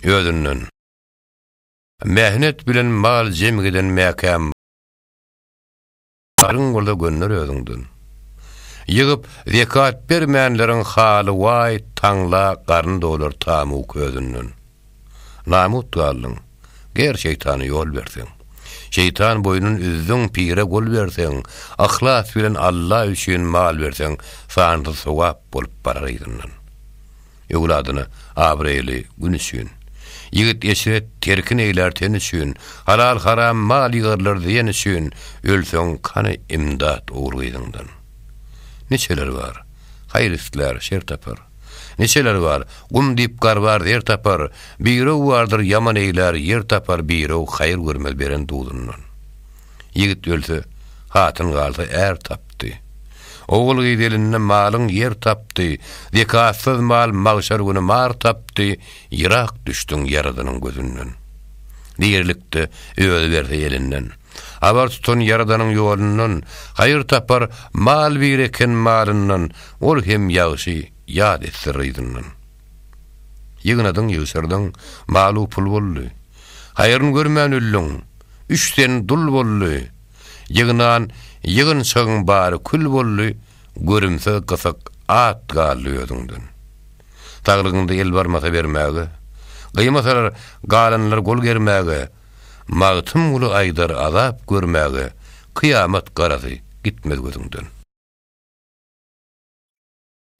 özünden. Mähnet bilen mal jem giden mäkäm. Alyň bolsa gönder özüňden. Ýygyp zekat bermänleriň haly waý taňla garny dolar tamu közünden. Namut galdyň, ger şeýtana ýol berseň. Şeýtan boýnun üzdüň pire gol berseň, yhlas bilen Alla üçin mal berseň sansyz sogap bolup barar yzyndan. Öwladyna abraýly gün üçin. Ýigit eşret terkin eýlär ten üçin, Halal-haram mal ýygarlar zyýan üçin, Ölseň kany imdat ogul gyzyňdan. Niçeler bar, haýyr islär, şer tapar, Niçeler bar, gum diýip garbar, zer tapar, Birew bardyr ýaman eýlär, ýer tapar, Birew haýyr görmez beren duzyndan. Ýigit ölse, hatyn galsa är tapdy. Ogul-gyz elinde malyň ýer tapdy, zekatsyz mal magşar güni mar tapdy, ýyrak düşdüň Ýaradynyň gözünden. Dirilikde özi berse elinden, habar tutan Ýaradanyň ýolundan, haýyr tapar mal bir eken malyndan, ol hem ýagşy ýat etse ryzyndan. Ýygnadyň, ýygşyrdyň, mal-u pul boldy. Haýryn görmän öldüň, üç sen dul boldy. Ýygnan ýygynçygyň bary kül boldy, görümsiz gysyk at galdy özüňden. Saglygyňda el barmasa bermäge, gyýmasalar galanlar gol germäge, Magtymguly aýdar azap görmäge, kyýamat garasy gitmez gözüňden.